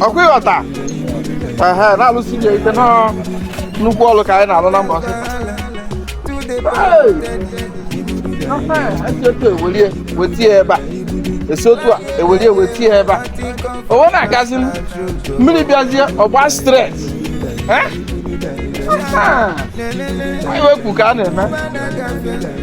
ọ kwa ị ghọta ehe na-alụsi ya ike na nnukwu ọrụ ka anyị na-alụ na mbọsị esi otu ewelie wetie ebe a esi otu a ewelie wetie ebe a o wee na-agazi m mmiri bịazie ọgba stress anyị wepụ ka a na-eme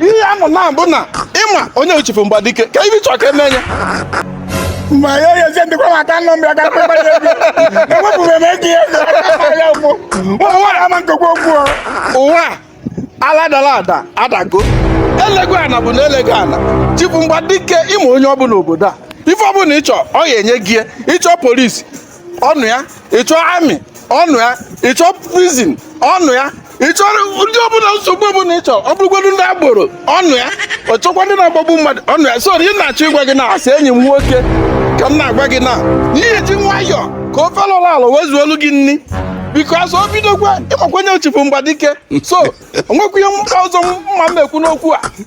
ihe ya nọ na bụ na ị ma onye bụ chifu mgbadike ka ibi chọọ ka eme nye ma ya ya se ndikwa maka nọ mbịa ka mkpa ya bi ewepụrụ m ego ya ya ụkwụ ụmụ nwaanyị ama nkekwa okwu ụwa ala dara ada adago elego ana bụ na elego ana chifu mgbadike ị ma onye ọ bụ n'obodo a ife ọ bụla ị chọ ọ ga-enye gị ị chọ police ọ nọ ya ị chọ army ọ nọ ya ị chọ prison ọ nọ ya ị chọ ihe ọbụla nsogbu ọbụla ị chọ ọ bụrụgodu ndị agboro ọ nọ ya ọ chọkwa ndị na-agbagbu mmadụ ọ nọ ya so ihe m na-achọ ịgwa gị na-asị enyi m nwoke ka m na-agwa gị na ị ga-eji nwayọọ ka ofe lụrụ ala wee zuolu gị nri because o bidokwa ị makwa onye bụ chifu mgbadike so o nwekwa ihe ọzọ m ma-ekwu n'okwu a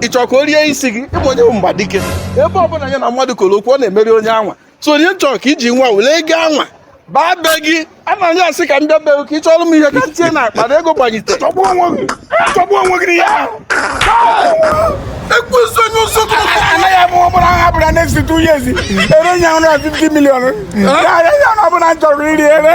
ị chọrọ ka o rie isi gị ị ma onye bụ mgbadike ebe ọ bụla ya na mmadụ koro okwu ọ na-emeri onye anwa so onye chọrọ ka i ji nwa were ego anwa baa be gị a na anya asị ka m bịa be gị ka ị chọrọ m ihe ka tinye na akpa na ego gbanyite chọgbuo onwe gị chọgbuo onwe gị n'ihe ahụ ekwesị onye ụzọ anaghị abụ ọbụla ha bụla next two years e ree ya 150 million ya ya na ọ bụ ala m chọrọ ire ere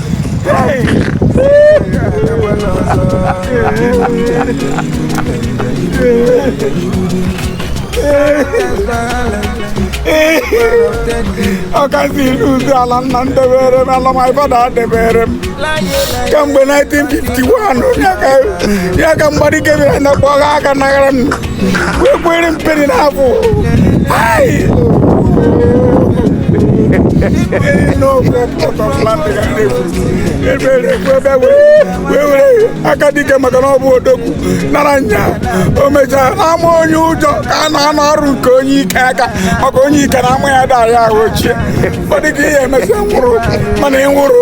ọkazi ilu ụzọ ala nna m debere m ala my father debere m kamgbe 1951 ya ka- ya ka mgbadike bịara na kpọga aka nagara m aka dike maka na ọ bụ odogwu nara ya o mechaa n'ama onye ụjọ ka a na-anọ arụ nke onye ike aka maka onye ike na ama ya dara ya ahụ ochie ọ dịka ihe emesịa nwụrụ mana ị nwụrụ